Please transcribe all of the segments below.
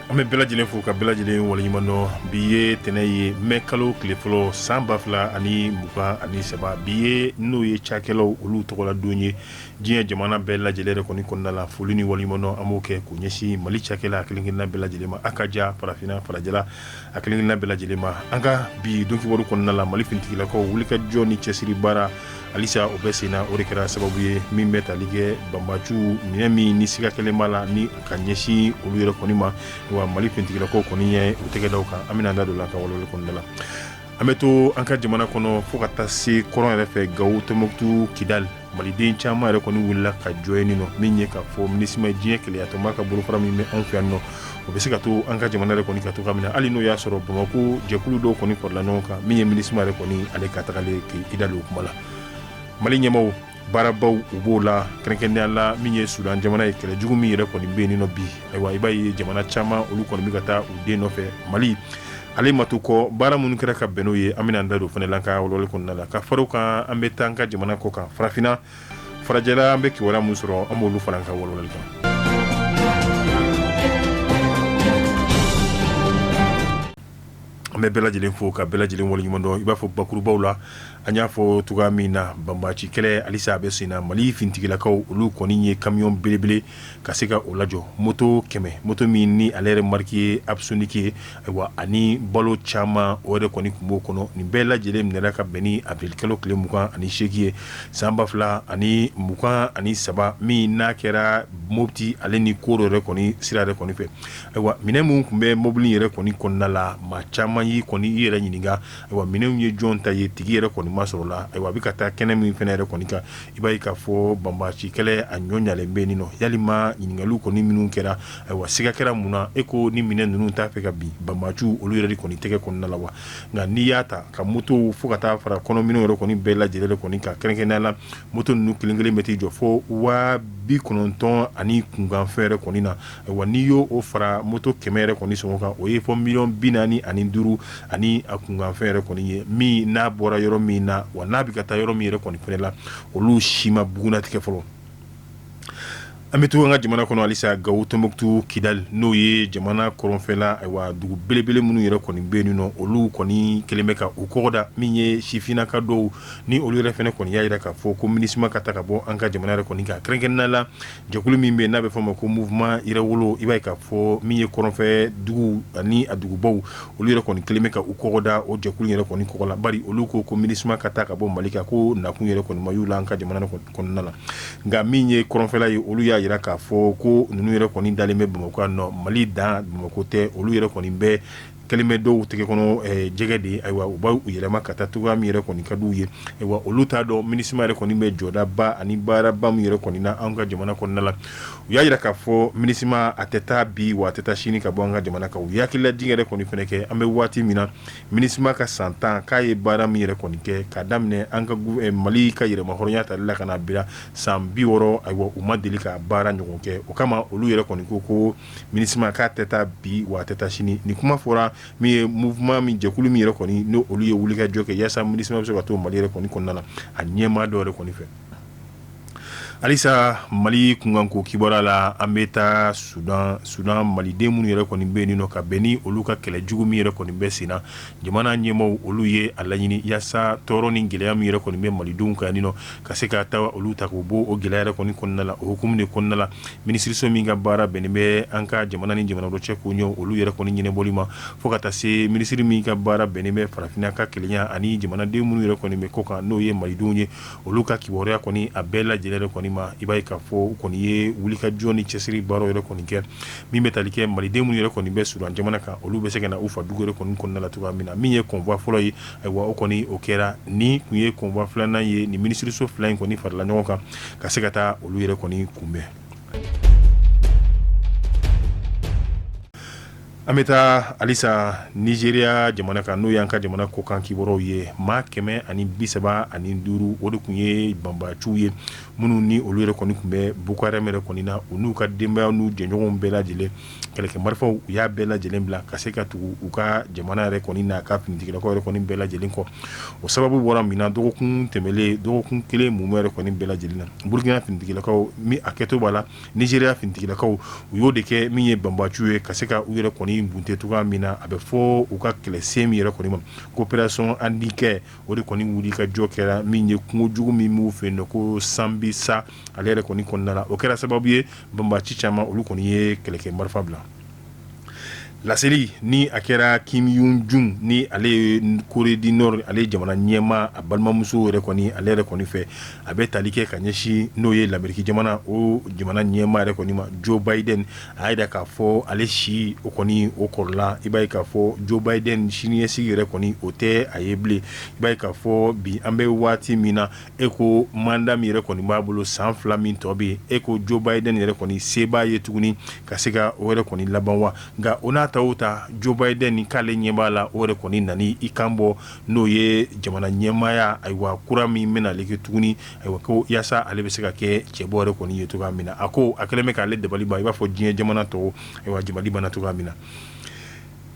an bɛ bɛɛ lajɛlen fo ka bɛɛ lajɛlen waleɲuman dɔn bi ye tɛnɛn ye mɛ kalo tile fɔlɔ san ba fila ani mugan ani saba bi ye n'o ye cakɛlaw olu tɔgɔla don ye diɲɛ jamana bɛɛ lajɛlen yɛrɛ kɔni kɔnɔna la foli ni waleɲumandɔn an b'o kɛ k'o ɲɛsin mali cakɛla a kelenkelenna bɛɛ lajɛlen ma a ka ja farafinna farajɛla a kelenkelenna bɛɛ lajɛlen ma an ka bi don kibaru kɔnɔna la mali finitigilakaw wulikajɔ ni cɛsiri baara halisa o bɛ senna o de kɛra sababu ye min bɛ tali kɛ banbaciw minɛn min ni siga kɛlen b'a la ni ka ɲɛsin olu yɛrɛ kɔni ma wa mali finitigilakaw kɔni ye u tɛgɛ d'a kan an bɛna an da don a la an ka walawalali kɔnɔna la An bɛ to an ka jamana kɔnɔ fo ka taa se kɔrɔn yɛrɛ fɛ gawo tɔnbukutu kidali maliden caman yɛrɛ kɔni wulila ka jɔ yen nɔ min ye k'a fɔ minisima diɲɛ kelenyatɔnba ka bolofara min bɛ anw fɛ yan nɔ o bɛ se ka to an ka jamana yɛrɛ kɔni ka to ka minɛ hali n'o y'a sɔrɔ bamakɔ jɛkulu dɔw kɔni kɔrɔla ɲɔgɔn kan min ye minisima yɛrɛ kɔni ale ka tagalen kidali o kuma la mali ɲɛmaaw baarabaw u b'o la kɛrɛnkɛrɛnnenya la min ye sudan jamana ye kɛlɛ jugu min yɛrɛ kɔni bɛ yen nɔ bi ayiwa i b'a ye jamana caman olu kɔni bɛ ka taa u den nɔfɛ mali ale ma to kɔ baara minnu kɛra ka bɛn n'o ye an bɛna an da don o fana la an ka walawalali kɔnɔna la ka fara o kan an bɛ taa an ka jamana kɔkan farafinna farajɛla an bɛ kibaru min sɔrɔ an b'olu fara an ka walawalali kan an bɛ bɛɛ lajɛlen fo ka bɛɛ lajɛlen waleɲumandɔn i b'a fɔ bakurubaw la an y'a fɔ cogo min na banbaci kɛlɛ halisa a bɛ sen na mali finitigilakaw olu kɔni ye kamiyɔn belebele ka se ka o lajɔ moto kɛmɛ moto min ni ale yɛrɛ mariki ye apsoniki ye ayiwa ani balo caman o yɛrɛ kɔni tun b'o kɔnɔ nin bɛɛ lajɛlen minɛra ka bɛn ni awirili kalo tile mugan ani seegin ye san ba fila ani mugan ani saba min n'a kɛra mopti ale ni koro yɛrɛ kɔni sira yɛrɛ kɔni fɛ Ayiwa minɛn minnu tun bɛ mobili yɛrɛ kɔni kɔnɔna la maa caman y'i kɔni i yɛrɛ ɲininka ayiwa minɛnw ye jɔn ta ye tigi yɛrɛ kɔni ma sɔrɔ la ayiwa a bɛ ka taa kɛnɛ min fana yɛrɛ kɔni kan i b'a ye k'a fɔ banbaci kɛlɛ a ɲɔ ɲalen bɛ nin nɔ ya ɲininkaliw kɔni minnu kɛra ayiwa siga kɛra mun na e ko ni minɛn ninnu t'a fɛ ka bin banbaciw olu yɛrɛ kɔni tɛgɛ kɔnɔna la wa nka n'i y'a ta ka moto fo ka taa fara kɔnɔminɛnw yɛrɛ kɔni bɛɛ lajɛlen de kɔni kan kɛrɛnkɛrɛnnenya la moto ninnu kelenkelen bɛ t'i jɔ fo waa bi kɔnɔntɔn ani kunkanfɛn yɛrɛ kɔni na ayiwa n'i y'o fara moto kɛmɛ yɛrɛ kɔni sɔngɔ kan o ye fo miliyɔn bi naani ani duuru ani a kunkanfɛn yɛrɛ kɔni ye min n'a bɔra yɔrɔ min na wa n'a bɛ ka taa yɔrɔ min yɛrɛ kɔni fana la olu si ma bugunnatigɛ fɔlɔ an bɛ to an ka jamana kɔnɔ halisa gawo tɔnbukutu kidali n'o ye jamana kɔrɔnfɛla wa dugu belebele minnu yɛrɛ kɔni bɛ yen nɔ olu kɔni kɛlen bɛ ka u kɔgɔ da min ye sifinnaka dɔw ni olu yɛrɛ fana kɔni y'a jira k'a fɔ ko minisima ka taa ka bɔ an ka jamana yɛrɛ kɔni kan kɛrɛnkɛrɛnnenya la Jɛkulu min bɛ yen n'a bɛ fɔ a ma ko mouvement Yɛrɛwolo i b'a ye k'a fɔ min ye kɔrɔnfɛ dugu ani a dugubaw olu yɛrɛ kɔni kɛlen bɛ ka u kɔgɔ da o jɛkulu yɛrɛ kɔni kɔgɔ la bari olu ko ko MINUSMA ka taa ka bɔ mali kan ko nakun yɛrɛ kɔni ma y'u la an ka jamana kɔnɔna la nka min ye kɔrɔnfɛla ye olu y'a jira k'a fɔ ko ninnu yɛrɛ kɔni dalen bɛ bamakɔ yan nɔ mali dan bamakɔ tɛ olu yɛrɛ kɔni bɛɛ kɛlen bɛ dɔw tɛgɛ kɔnɔ jɛgɛ de ye ayiwa u b' u yɛlɛma ka taa cogoya min yɛrɛ kɔni ka di u ye ayiwa olu t'a dɔn MINUSMA yɛrɛ kɔni bɛ jɔdaba ani baaraba min yɛrɛ kɔni na an ka jamana kɔnɔna la u y'a jira k'a fɔ MINUSMA a tɛ taa bi waa a tɛ taa sini ka bɔ an ka jamana kan u ye hakililajigin yɛrɛ kɔni fana kɛ an bɛ waati min na MINUSMA ka san tan k'a ye baara min yɛrɛ kɔni kɛ k'a daminɛ an ka mali ka yɛrɛmahɔrɔnya ta la ka bila san bi wɔɔrɔ ayiwa u ma deli ka baara ɲɔgɔn kɛ o kama olu yɛrɛ kɔni ko ko MINUSMA k'a tɛ taa bi wa a tɛ taa sini ni kuma fɔra min ye mouvement min jɛkulu min yɛrɛ kɔni ni olu ye wulikajɔ kɛ yaasa MINUSMA bɛ se ka to mali yɛrɛ kɔni kɔnɔna la a ɲɛmaa dɔ yɛrɛ kɔni fɛ halisa mali kunkanko kibaru la an bɛ taa Sudan Sudan maliden minnu yɛrɛ kɔni bɛ yen nɔ ka bɛn ni olu ka kɛlɛ jugu min yɛrɛ kɔni bɛ sen na jamana ɲɛmaaw olu ye a laɲini yaasa tɔɔrɔ ni gɛlɛya min yɛrɛ kɔni bɛ malidenw kan yen nɔ ka se ka taa olu ta k'u bɔ o gɛlɛya yɛrɛ kɔni kɔnɔna la o hukumu de kɔnɔna la minisiriso min ka baara bɛnnen bɛ an ka jamana ni jamana dɔ cɛ koɲɛw olu yɛrɛ kɔni ɲɛnabɔli ma fo ka taa se minisiri min ka baara bɛnnen bɛ farafinna ka kelenya ani jamanaden minnu yɛrɛ kɔni bɛ kɔkan n'o ye malidenw ye olu ka kibaruya kɔni a bɛɛ lajɛlen yɛrɛ kɔni ma i b'a ye k'a fɔ u kɔni ye wulikajɔ ni cɛsiri baara yɛrɛ kɔni kɛ min bɛ tali kɛ maliden minnu yɛrɛ kɔni bɛ Sudan jamana kan olu bɛ se ka na u fa dugu yɛrɛ kɔni kɔnɔna la cogoya min na min ye convoi fɔlɔ ye ayiwa o kɔni o kɛra ni tun ye convoi filanan ye nin minisiriso fila in kɔni farala ɲɔgɔn kan ka se ka taa olu yɛrɛ kɔni kunbɛn an bɛ taa halisa Nizeriya jamana kan n'o y'an ka jamana kɔkan kibaruw ye maa kɛmɛ ani bi saba ani duuru o de tun ye banbaciw ye minnu ni olu yɛrɛ kɔni tun bɛ Boko Haram yɛrɛ kɔni na u n'u ka denbaya n'u jɛɲɔgɔnw bɛɛ lajɛlen kɛlɛkɛ marifaw u y'a bɛɛ lajɛlen bila ka se ka tugu u ka jamana yɛrɛ kɔni n'a ka finitigilakaw yɛrɛ kɔni bɛɛ lajɛlen kɔ o sababu bɔra min na dɔgɔkun tɛmɛnlen dɔgɔkun kelen mumɛ yɛrɛ kɔni bɛɛ lajɛlen na burukina finitigilakaw min hakɛto b'a la Nizeriya finitigilakaw u y'o de kɛ min ye banbaciw ye ka se ka u yɛrɛ kɔni bunte cogoya min na a bɛ fɔ u ka kɛlɛsen min yɛrɛ kɔni ma ko opération Hadin Kai o de kɔni wulikajɔ kɛra min ye kungo jugu min b'u fɛ yen nɔ ko Sambisa ale yɛrɛ kɔni kɔnɔna la o kɛra sababu ye banbaci caman olu kɔni ye kɛlɛkɛ marifa bila laseli ni a kɛra Kim Yo Jong ni ale ye Corée du Nord ale ye jamana ɲɛma a balimamuso yɛrɛ kɔni ale yɛrɛ kɔni fɛ a bɛ tali kɛ ka ɲɛsin n'o ye lameriki jamana o jamana ɲɛma yɛrɛ kɔni ma Joe Biden a y'a jira k'a fɔ ale si o kɔni o kɔrɔla i b'a ye k'a fɔ Joe Biden siniɲɛsigi yɛrɛ kɔni o tɛ a ye bilen i b'a ye k'a fɔ bi an bɛ waati min na e ko manda min yɛrɛ kɔni b'a bolo san fila min tɔ bɛ e ko Joe Biden yɛrɛ kɔni se b'a ye tuguni ka se ka o yɛrɛ kɔni laban wa nka o n'a ta o ta Joe Biden nin k'ale ɲɛ b'a la o yɛrɛ kɔni nan i kan bɔ n'o ye jamana ɲɛmaaya ayiwa kura min bɛna ale kɛ tuguni ayiwa ko yaasa ale bɛ se ka kɛ cɛbɔ yɛrɛ kɔni ye cogo min na a ko a kɛlen bɛ k'ale dabali ban i b'a fɔ diɲɛ jamana tɔw ayiwa dabali banna cogoya min na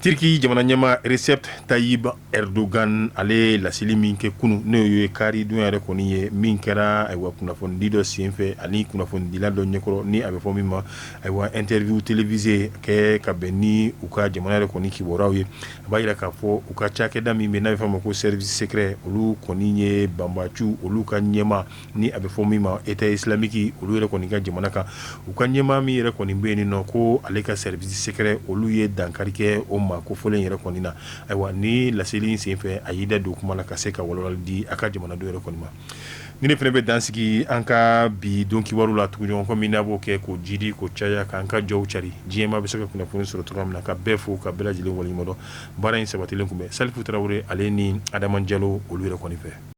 Turki jamana ɲɛmaa Recep Tayyip Erdogan ale ye laseli min kɛ kunun n'o ye karidon yɛrɛ kɔni ye min kɛra ayiwa kunnafonidi dɔ senfɛ ani kunnafonidila dɔ ɲɛkɔrɔ ni a bɛ fɔ min ma ayiwa interview télévisée kɛ ka bɛn ni u ka jamana yɛrɛ kɔni kibaruyaw ye a b'a jira k'a fɔ u ka cakɛda min bɛ n'a bɛ fɔ a ma ko service secret olu kɔni ye banbaciw olu ka ɲɛmaa ni a bɛ fɔ min ma État islamique olu yɛrɛ kɔni ka jamana kan u ka ɲɛmaa min yɛrɛ kɔni bɛ yen nɔ ko ale ka service secret olu ye dankari kɛ o ma ko fɔlen yɛrɛ kɔni na ayiwa ni laseli in senfɛ a y'i da don kuma na ka se ka walawalali di a ka jamanaden yɛrɛ kɔni ma nin fana bɛ dan sigi an ka bi don kibaru la tuguɲɔgɔn kɔ min n'a b'o kɛ k'o jidi k'o caya k'an ka jɔw cari diɲɛmaa bɛ se ka kunnafoni sɔrɔ cogoya min na ka bɛɛ fo ka bɛɛ lajɛlen waleɲumandɔn baara in sabatilen tun bɛ Salifu Tarawele ale ni Adama Jalo olu yɛrɛ kɔni fɛ